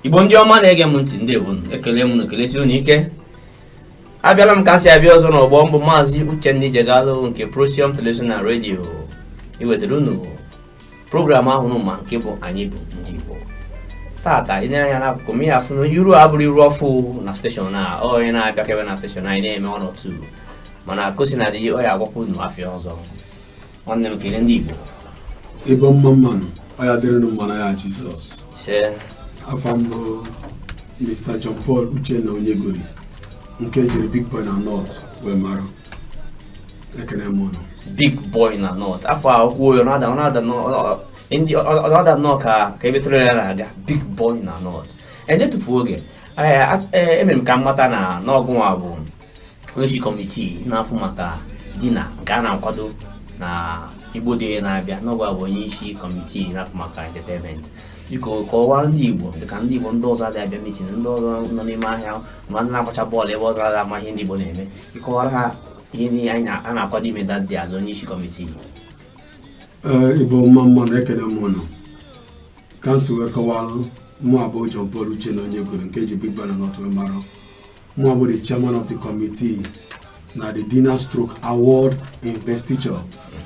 igbo ndị ọma na-ege m ntị ndị igbo ekele m unu ekelesi unu ike abịala m ka m si abịa ọzọ n'ọgbọ m bụ maazị uchenna ijegalụ nke prosium television na redio iwetara unu program ahụ unu ma nke bụ anyị bụ ndị igbo tata i nee anya n'akụkụ m ị ya-afụ na iru a abụrọ iru ọfụụ na steshọn a onye na-abịakebe na steshọn anyị na-eme one or two mana ka o sina dị ọ ya-agwakwa unu afa ya ọzọ nwanne m kele ndị Igbo Igbo mma mmanụ ọ ya-adịrị ụnụ mma n'afa Jizọs afa m bụ Mr. John Paul Uchenna Onyegori nke e jiri Big Boy na North wee mara ekene m ụnụ Big Boy na North afa a kwuo ya ọ na-ada ndị ọda nnọọ ka ka ebe tụrụ ya na-aga Big Boy na North enyetufu oge e mere m ka m mata na na ọ gụnwa bụ onyeisi kọmitii na-afụ maka dinner nke a na-akwado na igbo day na-abịa na ọ gụnwa bụ onye isi kọmitii na-afụ maka entertainment biko kọwara ndị igbo dịka ndị igbo ndị ọzọ adịghị abịa mitin ndị ọzọ nọ n'ime ahịa ma ndị na-agbacha mbọ n'ebe ọzọ adịghị ama ihe ndị igbo na-eme ịkọwara ha ihe ndị anyị na- a na-akwado ime that day as onye isi kọmitii ee igbo mma mmanụ ekene m ụnụ ka m si wee kọwa na mụwa bụ John Paul Uchenna Onyegori nke e ji Big Boy na North wee mara Mụwa bụ the chairman of the committee na the dinner stroke award investiture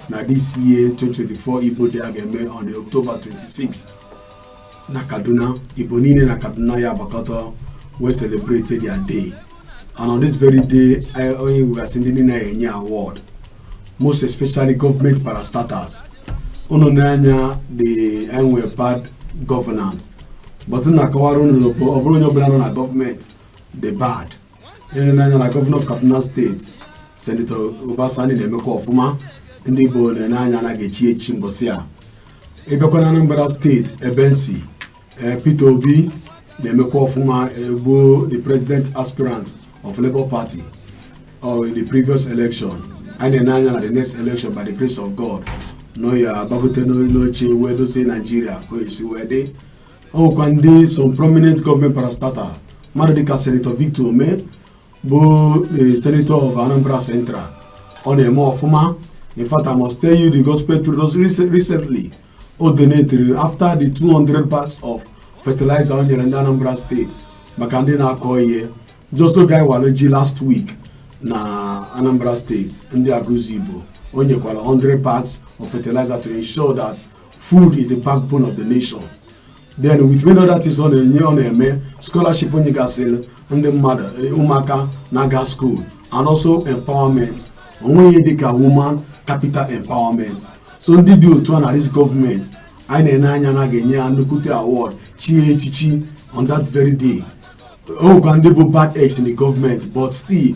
na this year 2024 Igbo Day a ga-eme on the October 26th na Kaduna Igbo niile na Kaduna ya-agbakọta wee celebrate their day and on this very day anyị nwegasị ndị anyị ya-enye award most especially government parastatals unu nee anya a dị enwe bad governance but m na-akọwara unu na ọ bụrọ onye ọbụla nọ na gọọmenti dị bad e nenee anya na gọvanọ of kaduna steeti senetọ uba sani na-emekwa ọfụma ndị igbo na-ene anya na a ga-echi echi mbọsị a ịbịakwa na anambra steeti ebe m si eh, peter obi na-emekwa ọfụma bụ the president aspirant of labour party or in the previous election anyị na-ene anya na the next election by the grace of god na ọ ya-agbagote n'oche wee dozie naijiria ka o esi wee dị o nwekwa ndị some prominent gọọmenti parastata mmadụ dịka senetọ victor umeh bụ the senator of anambra central ọ na-eme ọfụma in fact i must tell you the gospel truth just rec- recently o donetiri after the 200 bags of fertilizer o nyere ndị anambra steeti maka ndị na-akọ ihe just oge anyị wara ji last week na anambra steeti ndị agụlụzigbo o nyekwara 100 bags of fertilizer to ensure that food is the backbone of the nation then with many other things ọ na-enye ọ na-eme scholarship o nyegasịrị ndị mmadụ eh, ụmụaka na-aga school and also empowerment o nwee ihe dịka woman capital empowerment so ndị dị otu a na this government anyị na-ene anya na a ga-enye ya nnukwute award chie ya echichi on that very day o nwekwa ndị bụ bad eggs in the government but still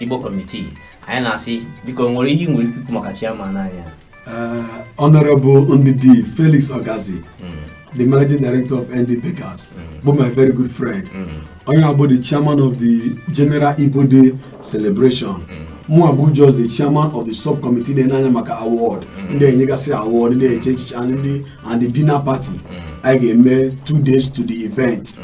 Igbo committee anyị na-asị biko o nwere ihe i nwere ikwu maka chairman anyị eh, Honorable Ndidi Felix Ogazi hmm. the managing director of ND Bakers hmm. bụ my very good friend hmm. onye a bụ the chairman of the general Igbo Day celebration mụwa bụ just the chairman of the subcommittee na-ene anya maka award ndị enyegasị award ndị e chi echichi and the dinner party anyị ga-eme two days to the event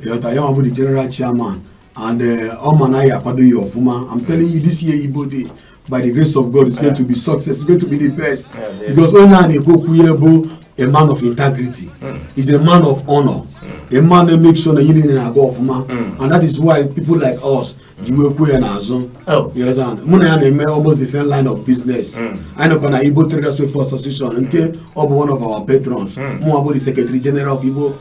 ị ghọta ya bụ the general chairman and eh, ọ ma na ya akwado ya ọfụma I'm telling you this year Igbo Day by the grace of God is going to be success it's going to be the best because onye a na-ekwu okwu ya bụ a man of integrity hmm. he's a man of honor hmm. a man that make sure na ihe niile na-aga ọfụma hmm. and that is why people like us ji wee kwụọ ya n'azụ oh. mụ na ya na-eme almost the same line of business anyị nọkwa na Igbo Traders Welfare Association nke ọ bụ one of our patrons mụwa bụ the secretary general of Igbo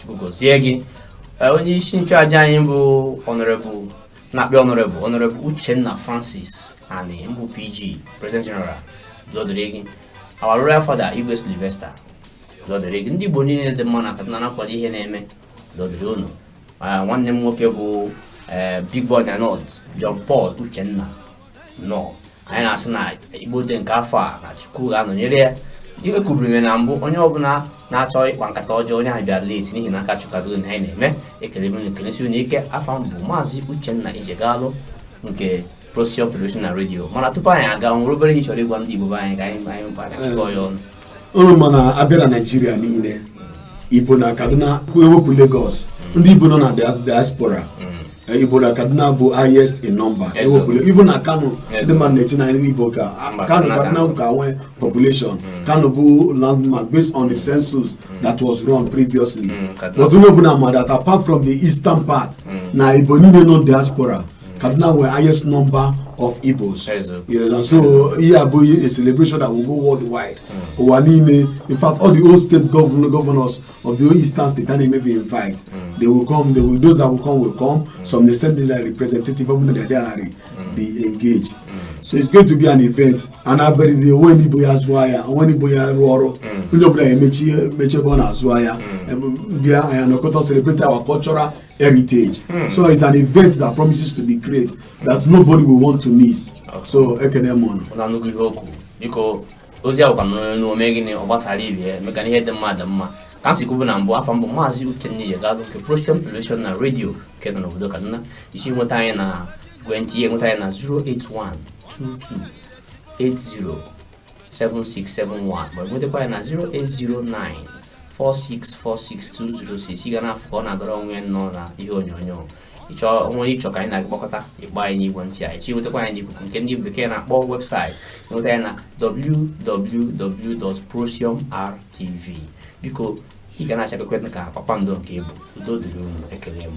Chukwu gozie gị onye isi nchụaja anyị bụ Honorable na-akpọ Honorable Honorable Uchenna Francis Ani mbụ PG President General udo dịrị gị our royal father Igwe Sylvester udo dịrị gị ndị Igbo niile dị mma na Kaduna na-akwado ihe a na-eme udo dịrị unu nwanne m nwoke bụ Big Boy na North John Paul Uchenna nọ anyị na-asị na igbo day nke afọ a na chukwu ga-anọnyere ya ekwuburu m na mbụ onye ọbụla na-achọ ịkpa nkata ọjọọ onye ahụ bịara late n'ihi na aka chukwu dị n'ihe anyị na-eme ekele m ekelesie unu ike afa m bụ maazị uchenna ijegalụ nke procyon television na redio mana tupu anyị aga o nwere obere ihe ị chọrọ ịgwa ndị igbo ibe anyị ka anyị chịkọọ ya ọnụ unu ma na a bịa na naijiria niile igbo na kaduna e wepụ lagos ndị igbo nọ na dias- diaspora eh, igbo na kaduna bụ highest in number Yes, sir. even na kano Yes, ndị mmadụ na-eche na ndị igbo ka Mba, kano Kano kaduna ka- ka nwee population kano bụ landmark based on the census that was run previously Mm, Kaduna. but onye ọbụla ma that apart from the eastern part na igbo niile nọ diaspora Kaduna were highest number of Igbos. Yeah, and so here yeah, a celebration that will go worldwide. Mm. Owanime, in fact, all the old state governor, governors of the old eastern state and maybe invite. Mm. They will come, they will, those that will come will come. Mm. Some they send their representative of the diary, mm. they engage. Mm. So it's going to be an event. And I've been the when Igbo ya zụọ ya, when Igbo ya rụọ ọrụ, onye ọbụla emechi ebe ọ na-azụ ya, bịa anyị anọkọta celebrate our cultural heritage. Hmm. So it's an event that promises to be great that nobody will want to miss. Okay. So ekene m unu. Ụna nnukwu ihe okwu biko ozi ahụ ka m nụrụ n'ume gịnị ọ gbasara ibe ya maka na ihe dị mma dị mma ka m si kwubu na mbụ afa m bụ maazị Uchenna Ijegalụ nke Procyon Television na redio nke nọ n'obodo Kaduna isi nweta anyị na ekwentị ị ya-enweta anyị na 081 22 80 7671 ma nwetakwa anyị na 0809 4646206 ị ga na-afụ ka ọ na-agara onwe ya nnọọ na ihe onyonyo o nwee ihe ị chọ ka anyị na gị kpakọta ịgba anyị n'igwe ntị anyị ị chọọ inwetakwa anyị n'ikuku nke ndị bekee na-akpọ website ị nweta anyị na www.procyonrtv biko ị ga na-achakwa ka kpakpando nke ị bụ udo dịrị unu ekele m